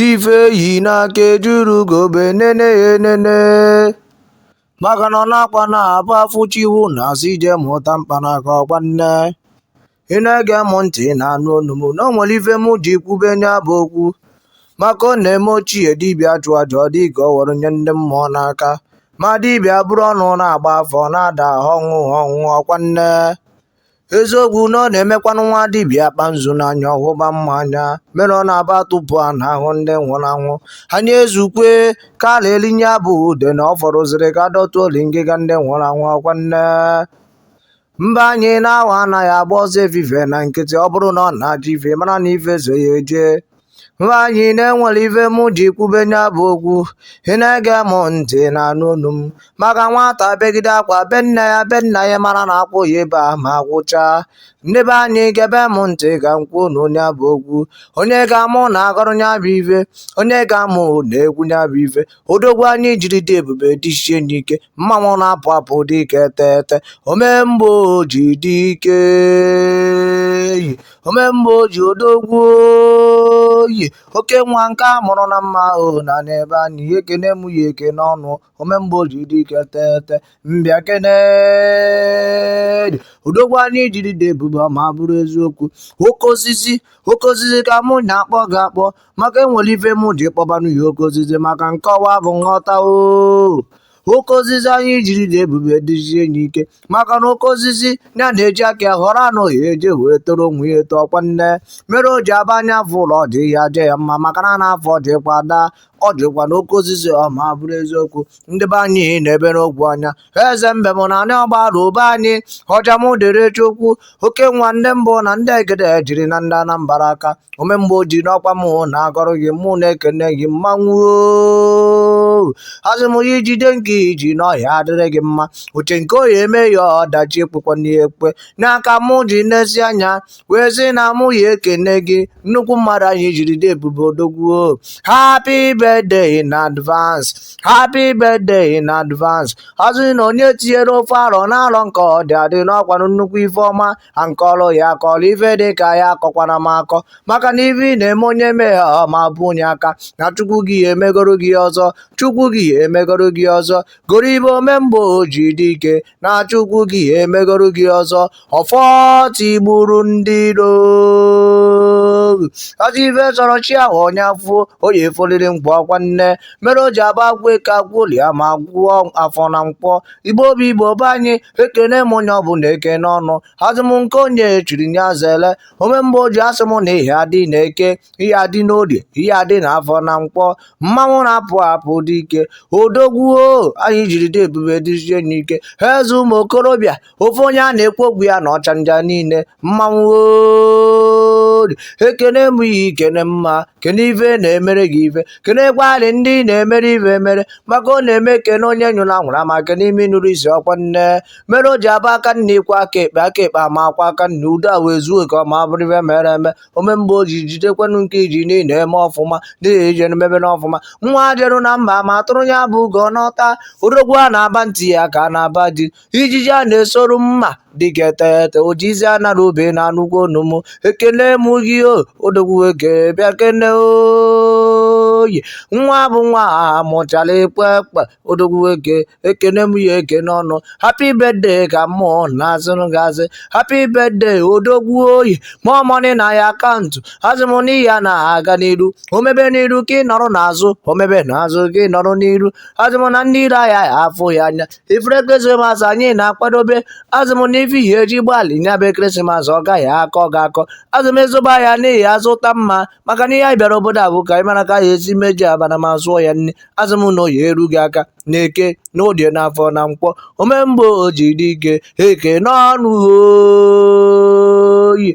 ife e yi n'aka ejirọ ugogbe enene ya enene maka na ọ na-akwa na abụ afụchiwu na asị ije mụta mkpanaka ọkwa nne ị na-ege m ntị na-anụ onu m na o nwere ife m ji kwube nya bụ okwu maka ọ na-eme ochie dibịa chụọ aja ọ dị ka o were nye ndị mmụọ n'aka ma dibịa buru ọnụ na-agba afa ọ na-ada ọnwụ ọnwụ ọkwa nne eziokwu na ọ na-emekwanụ nwa dibịa akpa nzu n'anya ọ hụba mmọ anya mere ọ na-abụ a tụpuo ana a hụ ndị nwụrụ anwụ anyị ezukwe ka a na-elinye abụ ude na ọ fọrọziri ka dọtụ oli ngịga ndị nwụrụ anwụ ọkwa nne mba anyị na awọ anaghị agba ọsọ efife na nkịtị ọ bụrụ na ọ na-achụ ife mara na ife so ya eje mba anyị na enwere ife mụ ji kwube nya bụ okwu ị na-ege m ntị na-anụ olu m maka nwata begide akwa be nne ya be nna ya mara na akwa ọ ya-ebe ama agwụcha ndị be anyị gebe m ntị ka m kwuonụ nya bụ okwu onye ka mụ na-agọrọ nya bụ ife onye ka mụ na-ekwu nya bụ ife odogwu anyị jiri dị ebube dịzie n'ike mmanwụ na-apụ apụ dike tete omemgbe o ji dike omemgbe o ji odogwu Oyi oke nwa nke a mụrụ na mma o na n'ebe anyị ekene m ya eke n'ọnụ omemgbe o ji dike tete m bịa kene gị odogwu anyị jiri dị ebube ma bụrụ eziokwu oke osisi oke osisi ka mụ na-akpọ gị akpọ maka enwere ife mụ ji kpọbanụ ya oke osisi maka nkọwa bụ nghọta o oke osisi anyị jiri dị ebube dịzie enyi ike maka na oke osisi ya na-eji aka ya họrọ ana ọ ya-eje wee toro onwe ya eto ọkwa nne mere o ji abụ anya fụlụ ọjị ya jaa ya mma maka na anaa afụ ọjị kwa daa ọjị kwanụ oke osisi o ma bụrụ eziokwu ndị be anyị na-ebere ogwu anya eze mbem na anị Ogbaru be anyị ọja m dịrị chukwu oke nwa ndị mbụ na ndị egede jiri na ndị anambara aka omemgbe o ji na ọ kwa mụ na-agọrọ gị mụ na-ekene gị mmanwụ asị m ya jide nke i ji na ọ ya-adịrị gị mma uche nke Oyi eme ya ọdachi ekpekwa n'ihe ekpe n'aka mụ ji n'ezi anya wee sị na mụ ya ekene gị nnukwu mmadụ anyị jiri dị ebube odogwu o happy birthday in advance happy birthday in advance asị na onye tinyere ofu arọ n'arọ nke ọ dị adị na ọ kwanụ nnukwu ife ọma ha nke ọrụ ya akọrọ ife dị ka ya akọkwana m akọ maka na ife ị na-eme onye mee ha ọ ma bụ onye aka na chukwu gị ya emegoro gị ọzọ chukwu gị ya emegoro gị ọzọ goro ibe omemgbe o ji dike na chukwu gị ya emegoro gị ọzọ ọfọ tigburu ndị iro ọzọ ife chọrọ chi ahụ onye afọ oyi efoliri mkpọ ọkwa nya mere o ji abụ agụọ eke agụọ olie ma gụọ afọ na nkwọ igbo obi igbo be anyị ekene m onye ọbụla ekene ọnụ asị m nke onye chiri nya zele ome mgbe o ji asị m na ị ya-adị na eke ị ya-adị n'orie ị ya-adị na afọ na nkwọ mmanwụ na-apụ apụ dị ike odogwu anyị jiri dị ebube dịzie n'ike ha eze ụmụ okorobịa ofe onye a na-ekwu okwu ya na ọchanja niile mmanwụ ori ekene m ya ikene mma kene ife na-emere gị ife kenekwarị ndị na-emere ife emere maka ọ na-eme kene onye nyụrụ ahụrụ ma kene imi nụrụ isi ọkwa nya mere o ji abụ aka nni kwọọ aka ekpe aka ekpe ma kwọọ aka nni udo ewee zuo ka ọma bụrụ ife mere eme omemgbe o ji jidekwanụ nke i ji na ị na-eme ọfụma n'ihi ijere mebe n'ọfụma nwa jeru na mba ma tụrụ ya bụ ugo nata odogwu a na-aba ntị ya ka a na-aba di ijiji a na-esoru mma dịka etete ojizi ana na obe na anụkwu onu m ekene m gị o odogwu eke bịa kene oyi nwa bụ nwa a mụchara ekwe ekpe odogwu eke ekene m ya ekene ọnụ happy birthday ka mmụọ na-azụrụ gị asị happy birthday odogwu oyi more money na your account asị m na ị ya na-aga n'iru omebe n'iru ka ị nọrọ n'azụ omebe n'azụ ka ị nọrọ n'iru asị m na ndị iro aya afụ ya anya ifere ekeresimesi anyị na-akwadobe asị m n'ife ị ya-eji gbalị nya bụ ekeresimesi ọ gaghị akọ gị akọ asị m ị zụba ahịa na ị ya-azụta mma maka na ihe anyị bịara obodo a bụ ka anyị mara ka anyị esi meji abana ma sụọ ya nni asị m na ọ ya-eru gị aka na eke na orie na afọ na nkwọ omemgbe o ji dị ike ekene ọnụ oyi